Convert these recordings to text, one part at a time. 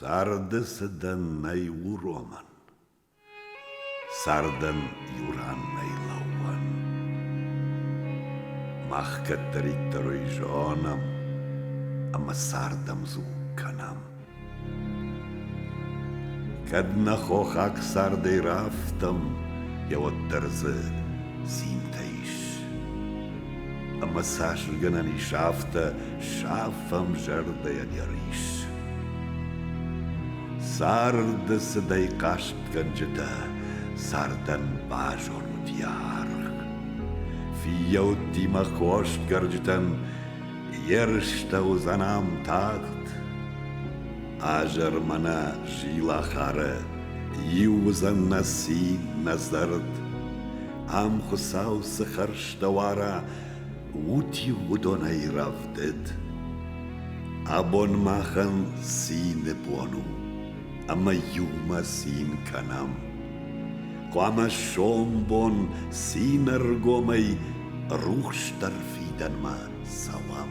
Царды цыдӕн нӕй уромӕн, Цардӕн иу ран нӕй лӕууӕн. Мах кӕддӕриддӕр ой зонӕм, Ӕмӕ цардӕмдзу кӕнӕм. Кӕд нӕ хохаг цардӕй рафтӕм, йӕ уӕддӕр дзы цинтӕ ис. Ӕмӕ цас гӕнӕн ис, афтӕ сафӕм зӕрдӕйӕн йӕ рис. Царды цыдӕй хъастгӕнджытӕ цардӕн базонут йӕ аргъ. Фиййӕуттимӕ хосгӕрджытӕн Ерыстӕ уыдзӕнӕм тагъд. Азӕр мӕнӕ зилахары, Иу уыдзӕн нӕ цин, нӕ зӕрд. Ам Хуыцау цы хӕрзтӕ уара, Ут-иу уыдонӕй рӕвдыд. Абон махӕн цины бон у, Ӕмӕ иумӕ цин кӕнӕм. Хъуамӕ сомбон цины ӕргомӕй рухсдӕр фидӕнмӕ цӕуӕм.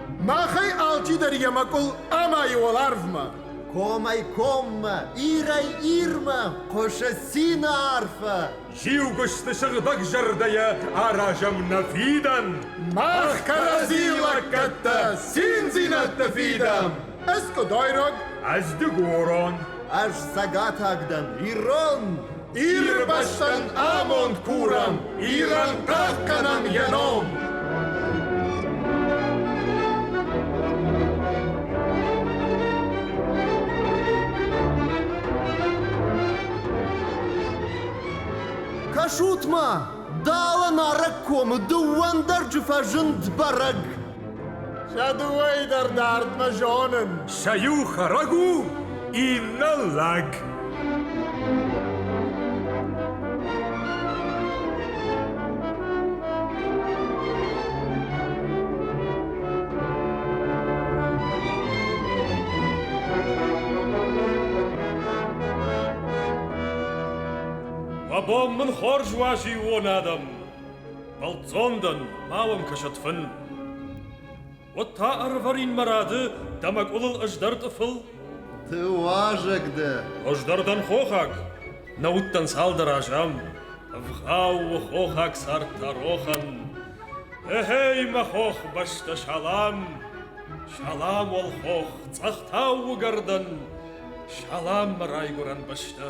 Махӕй алчидӕр йӕ мӕкъуыл амайы уӕларвмӕ. Комӕй-коммӕ, ирӕй-ирмӕ хъуысы цины арфӕ. Зиугуысты сыгъдӕг зӕрдӕйӕ аразӕм нӕ фидӕн. Мах кӕрӕдзийы лӕггӕдтӕ циндзинӕдты фидӕм. Ӕз къуыдойраг, ӕз дыгурон. Ӕз цӕгатаг дӕн, ирон. Ирбӕстӕн амонд курӕм, Ирӕн тагъд кӕнӕм йӕ ном! Кӕсут-ма, дӕлӕ нарӕг комы дыууӕ ӕндӕрджы фӕзынд бӕрӕг. Сӕ дыууӕйы дӕр дардмӕ зонын. Сӕ иу хӕрӕг у, иннӕ лӕг. Мӕ бон мын хорз уа зиууон адӕм. Бӕлццон дӕн, ма уӕм кӕсӕд фын. Уӕд та ӕрвӕрин мӕ рады, дӕ мӕ къулыл ӕз дӕр тъыфыл? Ты уазӕг дӕ? Ӕз дӕр дӕн хохаг, нӕ уыдтӕн цалдӕр аз ам. Ӕвгъау у хохаг цард та рохӕн. Ехей, мӕ хох, бӕстӕ салам! Салам уӕл хох, цъӕхтау уыгӕрдӕн! Салам мӕ райгуырӕн бӕстӕ!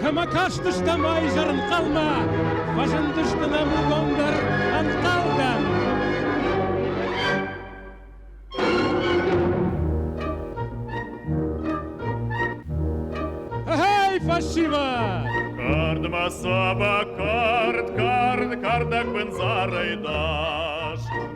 Кӕмӕ кастыстӕм изӕрынхъӕлмӕ, фӕзындысты нӕмыгондӕр ӕнхъӕлдӕн. Эй, фальшивая! Кардма саба кард, кард, кардак бензарай даш.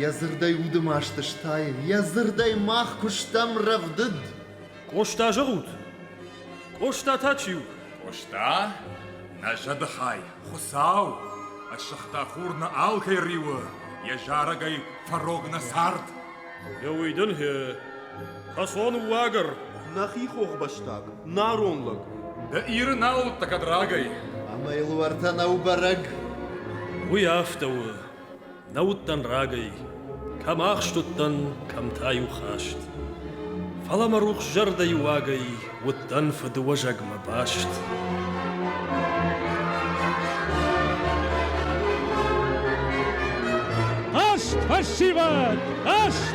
Йӕ дзырдӕй уды маст стайын, йӕ дзырдӕй мах куы стӕм рӕвдыд. Къоста зӕгъут? Къоста та чи у? Къоста? Нӕ зӕдыхай, Хуыцау! Ӕссыгъта хур нӕ алкӕй риуы, йӕ зарӕгӕй фӕрог нӕ цард. Ды уый дын гье, кӕсон уагӕр. Нӕхи хохбӕстаг, нарон лӕг. Ды Иры нал уыдтӕ кӕд рагӕй. Ӕмӕ йыл уӕртӕ нӕу бӕрӕг. Уый афтӕ у, Нӕ уыдтӕн рагӕй, кӕм ахст уыдтӕн, кӕм та-иу хаст. Фӕлӕ мӕ рухс зӕрдӕйы уагӕй уыдтӕн фыдыуӕзӕгмӕ баст. Аст фӕссивӕд! Аст!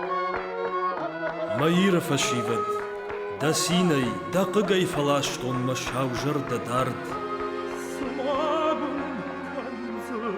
Мӕ Иры фӕсивӕд, дӕ цинӕй, дӕ хъыгӕй фӕластон мӕ саузӕрдӕ дард. Смагун кӕндзӕн,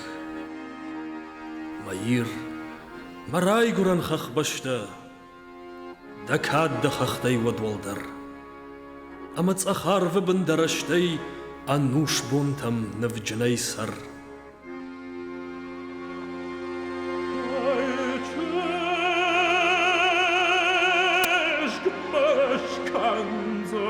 Мӕ Ир, мӕ райгурӕн хӕхбӕстӕ, Дӕ кад дӕ хӕхтӕй уӕд уӕлдӕр, Ӕмӕ цъӕхарвы бын дӕ рӕстӕй Ӕнусбонтӕм нывджынӕй цӕр. Чешг башкандза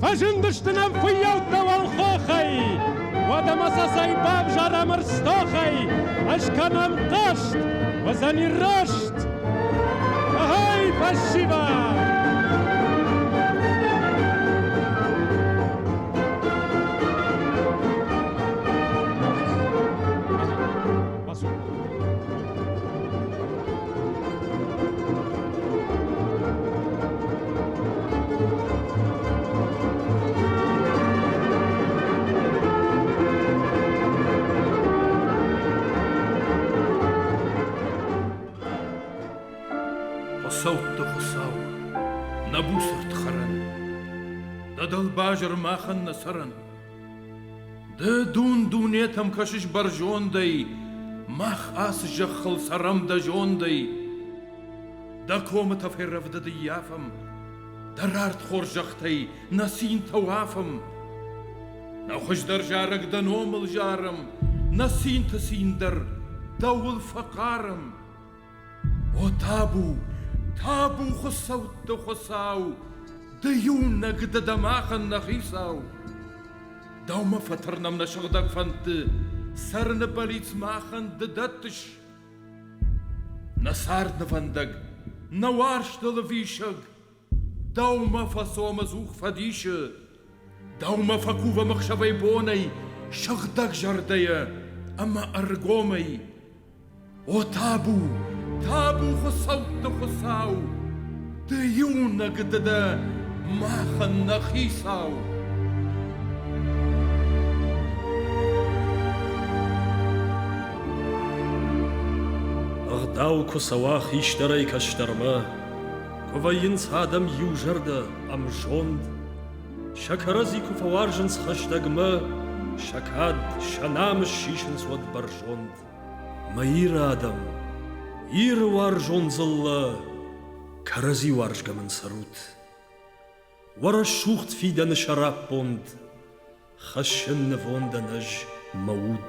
Фӕзындысты нӕм фыййӕуттӕ уӕлхохӕй, Уӕдӕ ма сӕ цӕй бавзарӕм ӕрстохӕй, Ӕз кӕнӕм хъаст, уыдзӕни раст. Ай, спасибо! Хуыцӕутты Хуыцау, нӕ буцырд хӕрӕн, Дӕ дӕлбазыр махӕн нӕ цӕрӕн, Ды дун-дунетӕм кӕсыс бӕрзондӕй, Мах ацы зӕххыл цӕрӕм дӕ зондӕй. Дӕ комытӕ феррӕвдыд ияфӕм, Дӕ рард хорзӕхтӕй нӕ цинтӕ уафӕм. Нӕ хуыздӕр зарӕг дӕ номыл зарӕм, Нӕ цинты цин дӕр дӕуыл фӕхъарӕм. О табу, табу хуыцӕутты хуыцау, ды иунӕг дӕ дӕ махӕн нӕ хицау! Дӕумӕ фӕтырнӕм нӕ сыгъдӕг фӕндты, цӕрыны бӕллиц махӕн ды дӕттыс. Нӕ царднывӕндӕг, нӕ уарзтыл ӕвисӕг, Дӕумӕ фӕцомы дзух фӕдисы, Дӕумӕ фӕкувӕм ӕхсӕвӕй бонӕй Сыгъдӕг зӕрдӕйӕ ӕмӕ ӕргомӕй. О табу, табу хуыцӕутты Хуыцау, Ды иунӕг ды дӕ, махӕн нӕ хицау! Ӕгъдау куы цӕуа хистӕрӕй кӕстӕрмӕ, Вӕййынц адӕм иу зӕрдӕ, ӕмзонд. Сӕ кӕрӕдзи куы фӕуарзынц хӕстӕгмӕ, сӕ кад, сӕ намыс сисынц уӕд бӕрзонд. Мӕ Иры адӕм, Иры уарзон дзыллӕ, кӕрӕдзи уарзгӕ мын цӕрут. Уӕ рӕсугъд фидӕны сӕраппонд, хӕссын нывондӕн ӕз мӕ уд.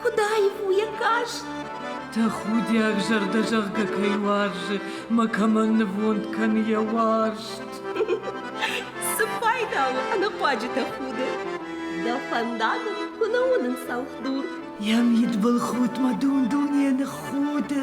Худаив у йӕ каст. Тӕхудиаг зӕрдӕзӕгъгӕ кӕй уарзы, мӕ кӕмӕн нывонд кӕны йӕ уарзт. Цы пайда у ӕнӕхъуаджытӕ худы? Дӕ фӕндагыл куы нӕ уынын цӕлхдур. Йӕ мидбылхудтмӕ дун-дунейӕ ныххуды.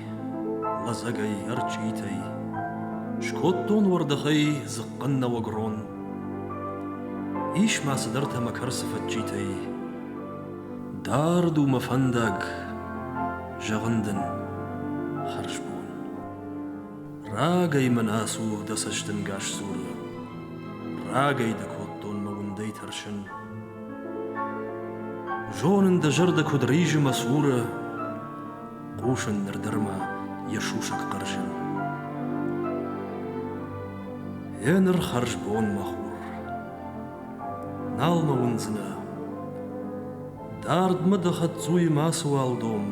лӕдзӕгӕй ӕрчъитӕй, скодтон уӕрдӕхӕй дзыхъхъын нӕуӕг рон. Ис ма цыдӕртӕ мӕ кӕрцы фӕдджитӕй, дард у мӕ фӕндаг, зӕгъын дын, хӕрзбон. Рагӕй мӕн ацу дӕ цӕстӕнгас сурын, рагӕй дӕ кодтон мӕ уындӕй тӕрсын. Зонын дӕ зӕрдӕ куыд ризы мӕ цуры, хъусын нырдӕрмӕ йӕ сусӕг хъӕрзын. Еныр хӕрзбон, мӕ хур, нал мӕ уындзынӕ. Дардмӕ дӕ хӕддзуйы мацыуал дом.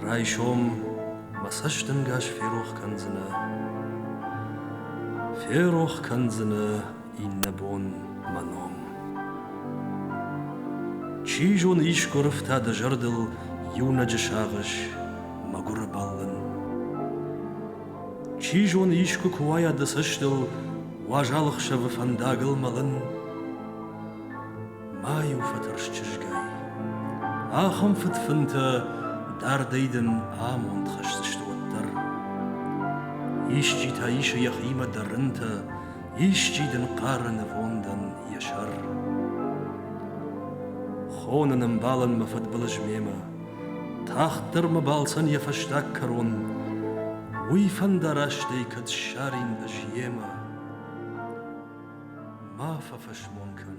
Райсом мӕ цӕстӕнгас ферох кӕндзынӕ. Ферох кӕндзынӕ иннӕбон мӕ ном. Чи зоны, искуы рыфтӕ дӕ зӕрдыл иунӕджы сагъӕс мӕгуыры бӕллын. Чи зоны, искуы куы уайа дӕ цӕстыл уазал ӕхсӕвы фӕндагыл мӕлын. Ма-иу фӕтӕрс чызгай. Ахӕм фыдфынтӕ дардӕй дын амонд хӕсдзысты уӕддӕр. Исчи та исы йӕхимӕ дӕ рынтӕ, Исчи дын хъары нывондӕн йӕ сӕр. Хоны нымбалын мӕ фыдбылыз мемӕ, Тагъддӕр мӕ балцӕн йӕ фӕстаг кӕрон, Уый фӕндарастӕй кӕд ссарин ӕз йемӕ. Ма фӕфӕсмон кӕн.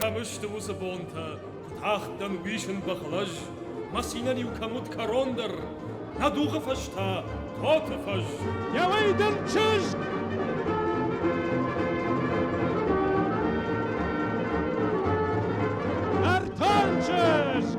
Кӕмысты уыцы бонтӕ, куы тахтӕн уисын бӕхлӕж, Мӕ цинӕн-иу кӕм уыд кӕрон дӕр, Нӕ дугъы фӕз та тоты фӕз. Йӕуӕй дын чызг! Нартанчызг!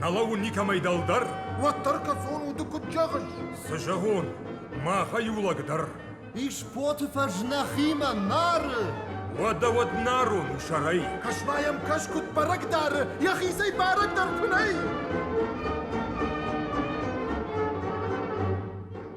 Налау никӕмӕй дӕлдӕр? Уӕддӕр кӕцон уды куыд зӕгъыс? Цы зӕгъон, махӕй иу лӕг дӕр. Исботы фӕз нӕхимӕ нары. Уӕдӕ уӕд нарон у сӕрӕй. Кӕсма йӕм кӕс куыд бӕрӕг дары, йӕхицӕй бӕрӕг дӕр куы нӕй.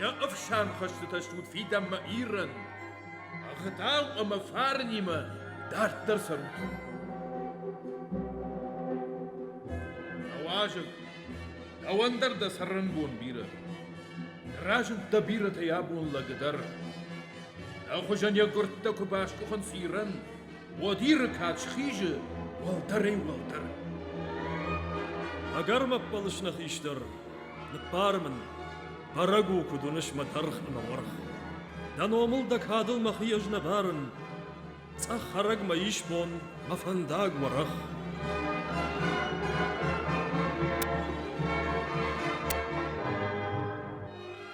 Йӕ ӕфсӕн хӕстытӕ стут фидӕнмӕ Ирӕн, ӕгъдау ӕмӕ фарнимӕ дарддӕр цӕрут. Дӕ уазӕг, дӕуӕн дӕр дӕ цӕрӕнбон бирӕ. Разынд дӕ бирӕтӕй абон лӕгы дӕр. Дӕ хуызӕн йӕ гуырдтӕ куы баскъуыхынц Ирӕн, Уодиры кад схизы уӕлдӕрӕй-уӕлдӕр. Ӕгӕр мӕ ппӕлыс нӕ хистӕр, ныббар мын, бӕрӕг у, куыд уыныс мӕ дӕргъ ӕмӕ уӕрх. Дӕ номыл дӕ кадыл мӕхи ӕз нӕ барын, цъӕх хӕрӕг мӕ исбон, мӕ фӕндаг уӕрӕх.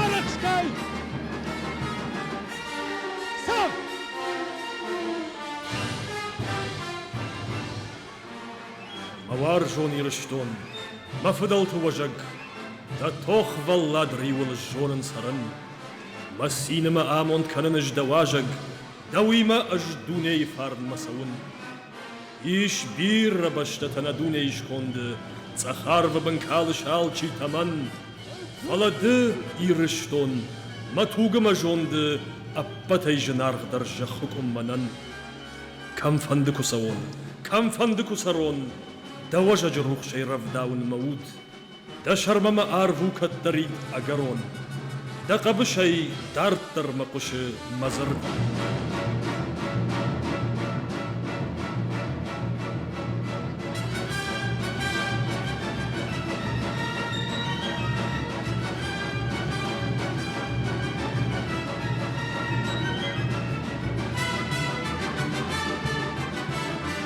Арӕхскай! Сам! Мӕ уарзон Ирыстон, мӕ фыдӕлты уӕзӕг, дӕ тохвӕллад риуыл сзонын цӕрын, мӕ цины мӕ амонд кӕнын ӕз дӕ уазӕг, дӕуимӕ ӕз дунейы фарнмӕ цӕуын. Ис бирӕ бӕстӕтӕ нӕ дунейы сконды, цӕхӕрвы бын калыс алчи тӕмӕн. Фӕлӕ ды, Ирыстон, мӕ тугы мӕ зонды, ӕппӕтӕй зынаргъдӕр зӕххы къуым мӕнӕн. Кӕмфӕнды куы цӕуон, кӕмфӕнды куы цӕрон, дӕ уӕзӕджы рухсӕй рӕвдауын мӕ уд. Дӕ сӕрмӕ мӕ арв у кӕддӕрид ӕгӕрон, Дӕ хъӕбысӕй дарддӕр мӕ хъуысы мӕ дзырд.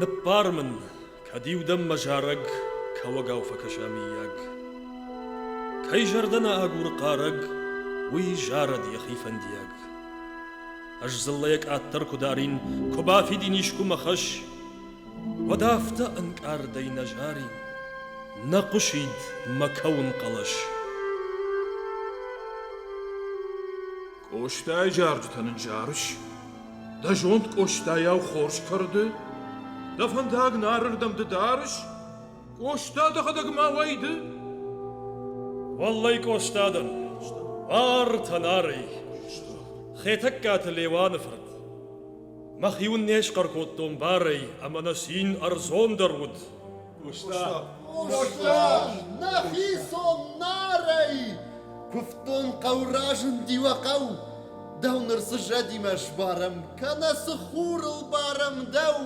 Ныббар мын, кӕд-иу дӕм мӕ зарӕг кӕуӕгау фӕкӕса, миййаг. Кӕй зӕрдӕ нӕ агуры хъарӕг, уый зарӕд йӕхи фӕндиаг. Ӕз дзыллӕйӕ къаддӕр куы дарин, куы бафидин искуы мӕ хӕс, Уӕд афтӕ ӕнкъардӕй нӕ зарин, Нӕ хъуысид мӕ кӕуын хъӕлӕс. Къостайы зарджытӕ ныззарыс? Дӕ зонд Къостайау хорз кӕрды? Дӕ фӕндаг нарырдӕм ды дарыс? Къоста дӕхӕдӕг ма уӕйды? Уӕллӕй Къостадӕн, бар тӕнарӕй, Хетӕгкаты Леуаны фырт. Мӕхи уын не схъӕр кодтон барӕй, ӕмӕ нӕ цин ӕрдзондӕр уыд. Къуста! Къуста! Нӕхи сон нарӕй! Куывтон хъӕу разынди уӕ хъӕу, Дӕу ныр цы зӕдимӕ сбарӕм, кӕнӕ цы хурыл барӕм дӕу!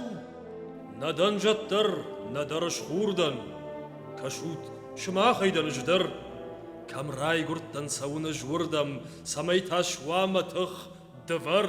Нӕ дӕн зӕд дӕр, нӕдӕр схур дӕн. Кӕсут, сымахӕй дӕн ӕз дӕр. Кӕм райгуырдтӕн цӕуын ӕз уырдӕм, цӕмӕй тас уа мӕ тых, дывӕр.